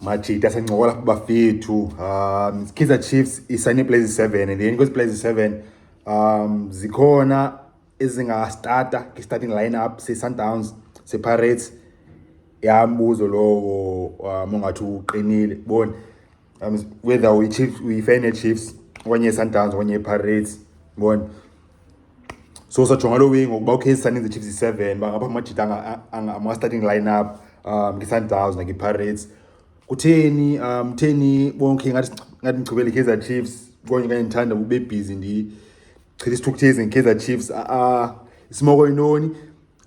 Majita sencokola kubafethu um Kaizer Chiefs isayine iplazi seven and then kwezi plazi seven um zikhona ezingastata kwi-starting lineup se-sundowns se-pirates yambuzo lowo um ongathi uqinile boni um whether uyichiefs uyife nechiefs okanye isundowns okanye ipirates bona so sajonga loo wing ngokuba ukhe isandins ichiefs yi-seven bangapha amajita ama-starting line up um ngesundowns nakipirates kutheni um kutheni bonke ngathi ndigqibele ikaizer chiefs konye kanye ndithanda ube bhizi ndichitha isithukuthezi ngekaizer chiefs a-a isimoko yintoni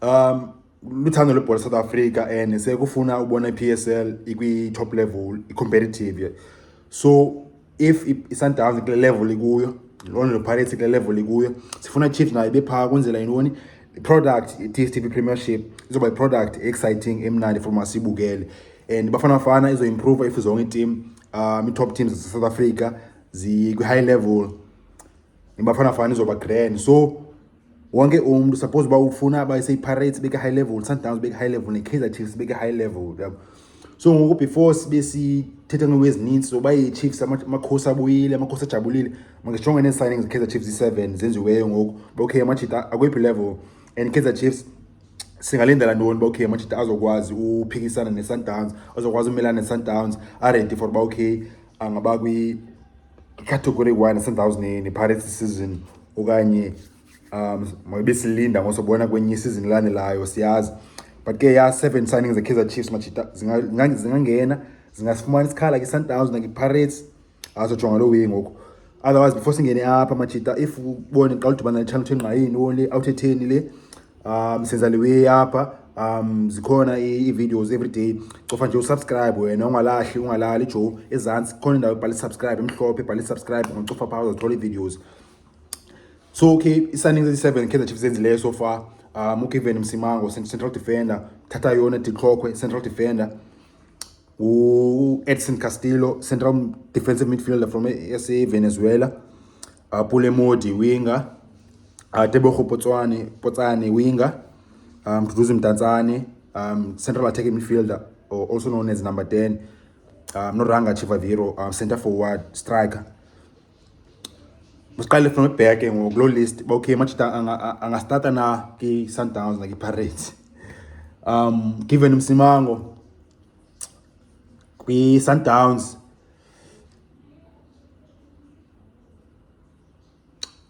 um luthando lwebhola south africa and sekufuna ubona i-psl ikwi-top level i-competitive so if isundowns kule level ikuyo lona pirates kule level ikuyo sifuna chiefs nayo ibephaa kwenzela yintoni i-product i-dstv premiership izoba i-product exciting emnandi for masibukele and bafana bafana izoimprova if zonke itim um i-top teams zasesouth africa zikwi-high level ibafana bafana izoba grand so wonke umntu suppose uba ufuna abaye seyiPirates beke high level Sundowns beke high level neKaizer Chiefs beke high level yabo so ngoku before sibe sithetha ngento ezininzi zoba iChiefs amakhosi abuyile amakhosi ajabulile mangijonge nee-signings zeKaizer Chiefs i-seven zenziweyo ngoku ba okay amajita akweyiphi level and Kaizer Chiefs singalindela ntoni uba okay amajita azokwazi uphikisana ne-Sundowns azokwazi umelana ne-Sundowns aredi for uba okay angaba icategory one sendawuzinini iPirates season okanye um mabesilinda ngosobona kwenye isizini elandelayo siyazi but ke ya seven signings ze-kaizer chiefs majita zingangena zingasifumana isikhala ke-sundowns nakipirates azojonga loo way ngoku otherwise before singene apha majita if ubone xa ludibana nechannel thengqayini only awuthetheni le um senza le way apha um zikhona ii-videos every day cofa nje usubscribe wena ungalahli ungalali jo ezantsi khona indawo ebhala isubscribe emhlophe ebhala isubscribe ngocofa phaa uzazithola ii-videos so okay i-signings ezi-seven kaizer chiefs enzileyo so far um ugiven msimango central defender thatha yona dixhokhwe central defender u-edson castillo central defensive midfielder from esa venezuela uh, Pule Modi winger uh, Tebogo Potswane Potsane winger um, Duduzi Mtanzane um, central attacking midfielder or also known as number 10 um, Noranga Chivaviro um, center forward striker masiqale from back ngoku loo list uba okay machita angastarta na kwi-sundowns nakwi-pirates um given msimango kwi-sundowns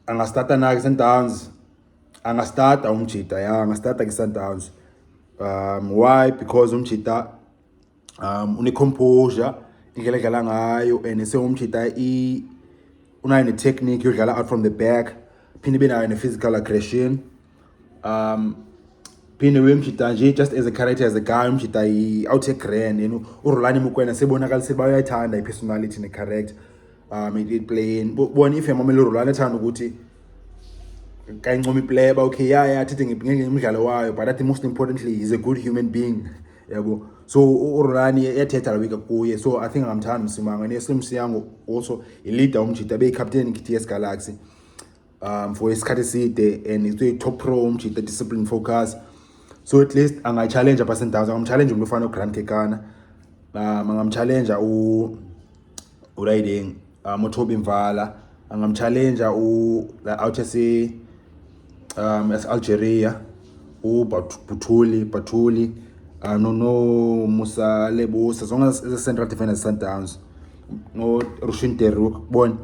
angasitata na kwi-Sundowns angasitata umjita ya angasitata kwi-Sundowns um why because umjita um unecomposure indlela edlala ngayo and sewumjita i unayo ne-technique yodlala out from the back phinde ibe nayo ne-physical aggression um phinde uyemjita nje just as a character as a guy umjita out a grand you know urulani mukwena sebonakalise bayayithanda i-personality ne-character um it playing bona if yamamele urulani ethanda ukuthi kayincoma ipleba okay ya ya athethe ngenge umdlalo wayo but athi most importantly he's a good human being yabo so urulani yathetha lawika kuye so i think angamthanda msimanga ne-slim siyango also ileader umjita beyicaptain i-t s galaxy um for isikhathi eside and it's a top pro umjita um, discipline focus so at least angayitshalenja pha sendawns angamtshalenja umntu ofana ugrant kekana um angamtshalenja uriding um utobi mvala angamtshalenja u-out yase um yase-algeria u Pathuli Pathuli uh, ah, nonomusa lebusa zonke eze-central defenders sundowns norushin deruk bona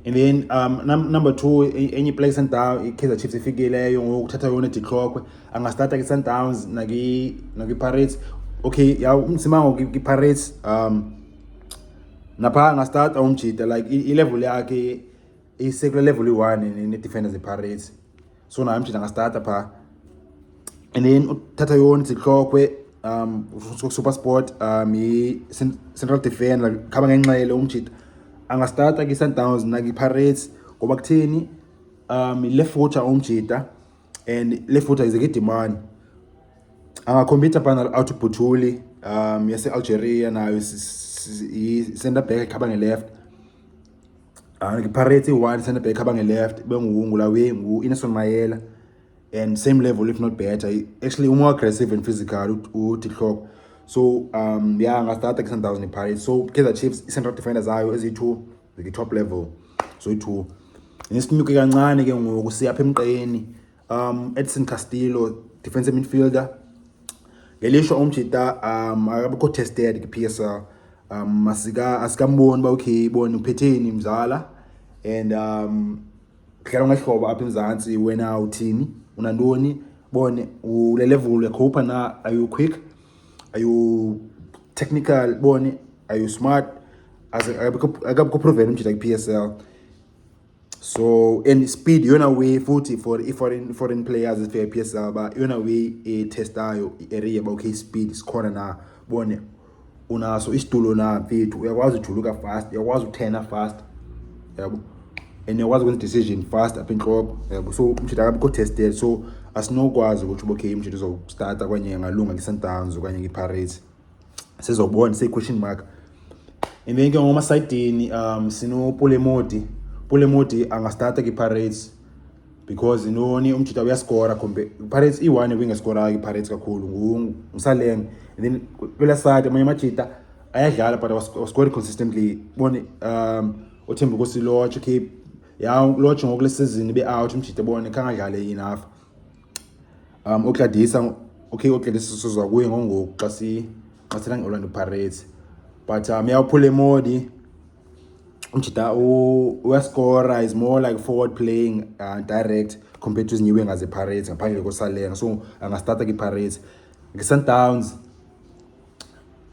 and then um, num number two e, enye iplace sundown ikaizer chiefs ifikileyo ngoku uthatha yona dihlokwe angastarta kwi-sundowns nakwi-pirates okay ya umsimango kwi-pirates um napha angastarta umjita like ilevel yakhe isekule level iyi-one ne-defenders ipirates so nayo mjita ngasitata phaa and then uthatha yona zihlokhwe um super sport um yi-central defender khaba ngenxele umjita angasitata kwi-sundowns nakwi-pirates ngoba kutheni um le future umjita and le future ize kidimani angakhompyutha phana out bhutuli um yase-algeria nayo i-center back khaba nge-left Ah, Pirates i-one centre back abange-left benguwungu lawe ngu-ineson mayela and same level if not better actually umore aggressive and physical utihloko so um ya ngastarta kwi-sundowns nepirates so kaizer chiefs i-central defender zayo eziyi-two zikwi-top level so yi-two nesinyuke kancane ke ngoku siyapha emqeni Um, Edson Castillo, defensive midfielder. Ngelishwa umjita um akabikho tested kwi-PSL. Um asika asikamboni uba okay ibona uphetheni mzala and um dlala ngehlobo apha eMzantsi wena uthini unantoni bone ule level uyakhupha na are you quick are you technical bone are you smart akabikho proven umjita kwi-PSL so and speed yona way futhi for i-foreign foreign players for p s l uba yona way etestayo i-area uba okay speed sikhona na bone unaso isitulo na mfethu uyakwazi ujuluka fast uyakwazi uthena fast yabo and uyakwazi ukwenza decision fast apha entloko yabo so umshidi akabikho tested so asinokwazi ukuthi uba okay umshidi uzowustarta okanye angalunga nge-sundowns okanye nge-pirates sizobona siyi-question mark and then ke ngomasayidini um sinopulemodi pulemodi angastarta kwi-pirates because intoni umjita uyaskora kumbe pirates iyi-one ebingeskorayo ipirates kakhulu ngusaleng and then kwela side amanye amajita ayadlala but waskori consistently bone um uthemba ukuthi lotch okay ya lotch ngoku le sizini be-out umjita bone khangadlale enough Um, uGladys, okay, uGladys sizwa kuye ngongoku xa si xa sina nge-Orlando Pirates. But um yawuphula emodi. Umjita uyaskora is more like forward playing uh, direct compared to izinyiwe ngaze Pirates ngaphandle kosalenga. So angastarta kwi-Pirates. Nge-Sundowns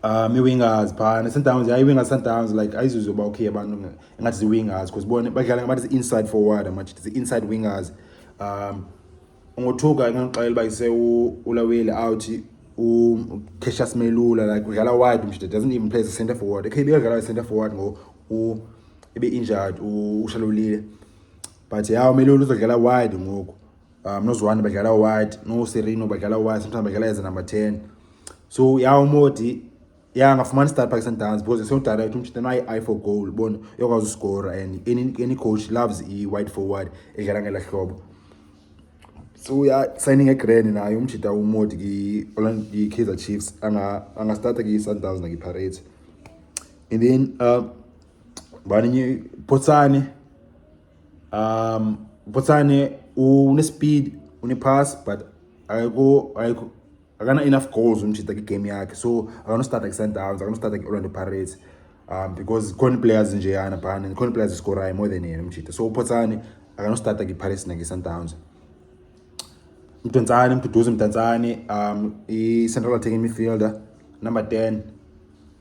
um ii-wingers phana sundowns yaye iwingers sundowns like ayizuze uba okay abantu ingathi zii-wingers because bona badlala ngabathi zi-inside forward amathi zi-inside wingers um ungothuka inganoxelela uba ise ulaweli out ucashas melula like udlala wide mshide doesn't even play as a center forward ekhe ibekadlala i-center forward ngo ibe-injured ushalolile but yaw melula uzodlala wide ngoku um noziwani badlala uwhite noserino badlala uwhite sometimes badlala eze number ten so ya umodi ya angafumani start park sundowns because sewudirect umtshita nayi-i for goal bona uyakwazi uskora and any, any coach loves i-white forward edlala ngela hlobo so uyasigning egrand naye umjita umodi kwi-kaizer chiefs angastarta kwi-sundowns nakwi-parate and then um uh, baninye potsane Um, Botsane une-speed une-pass but ayikho ayikho akana-enough goals umjita kwigame yakhe so akanostata kwi-sundowns akanostata kwi-orlando pirates um because khona iplayers njeyana phana khona iplayers iskorayo more than yena umjita so upotsane akanostata kwi-pirates nakwi-sundowns mdantsane mduduzi mdantsane um i-central attacking midfielder number ten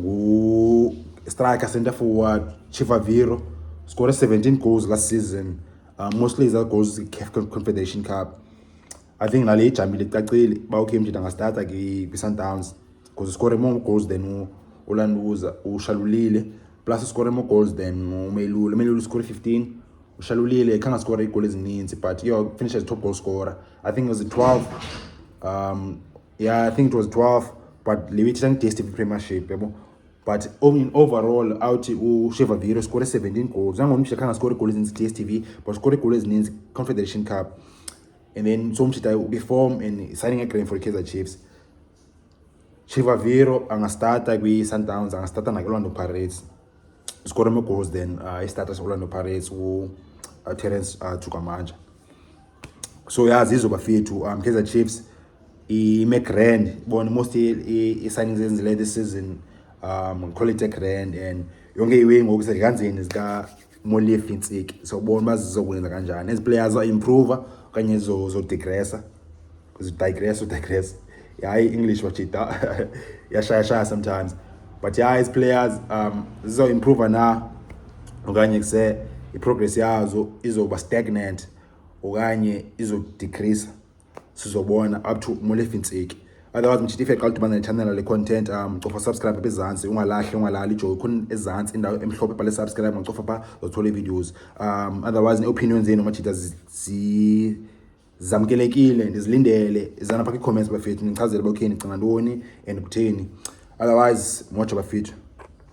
ngu-striker centre forward Chivaviro scored 17 goals last season uh, mostly iza goals i-caf confederation cup i think nale ijamile icacile uba ukhe mjita angastata kwi-sundowns because uscore more goals than ulanduza ushalulile plus uscore more goals than umelule umelule uscore 15 ushalulile khange askore iigoli ezininzi but yo finish as top goal scorer i think it was 12 um yeah i think it was 12 but le week sangidstv premiership yabo but in overall awuthi usheva viro score 17 goals nangomshita khanga score goals ezininzi dstv but score goals ezininzi confederation cup and then so umshita ubeform and signing egrand for kaizer chiefs sheva viro angastarta kwi-sundowns angastarta nakulando pirates score more goals than uh, isitata seorlando pirates uterence uh, uh, chukamanja so ya zizo bafethu um kaizer chiefs ime grand bona most i-signings enzile this season um call it a grand and yonke iwe ngoku sekanzini zikamolief intsiki sawubona uba zizokwenza kanjani ezi players aimprova okanye zodegressa udigress udigress yayi english wajita yashayashaya sometimes but yayi as players um zizoimprova na okanye kuse iprogress yazo izoba stagnant okanye izodecrease sizobona up to molefi ntsiki otherwise mjita ife xa udibana nechanela le-content um cofa subscribe apha ezantsi ungalahli ungalali ijoyi khona ezantsi indawo emhlophe pale subscribe ungacofa pha zothola ii-videos um otherwise ne-opinion zenu majita zi, zi zamkelekile ndizilindele izana pha kwi-comments bafethu nichazele uba okay ndicinga ntoni and kutheni otherwise moja bafethu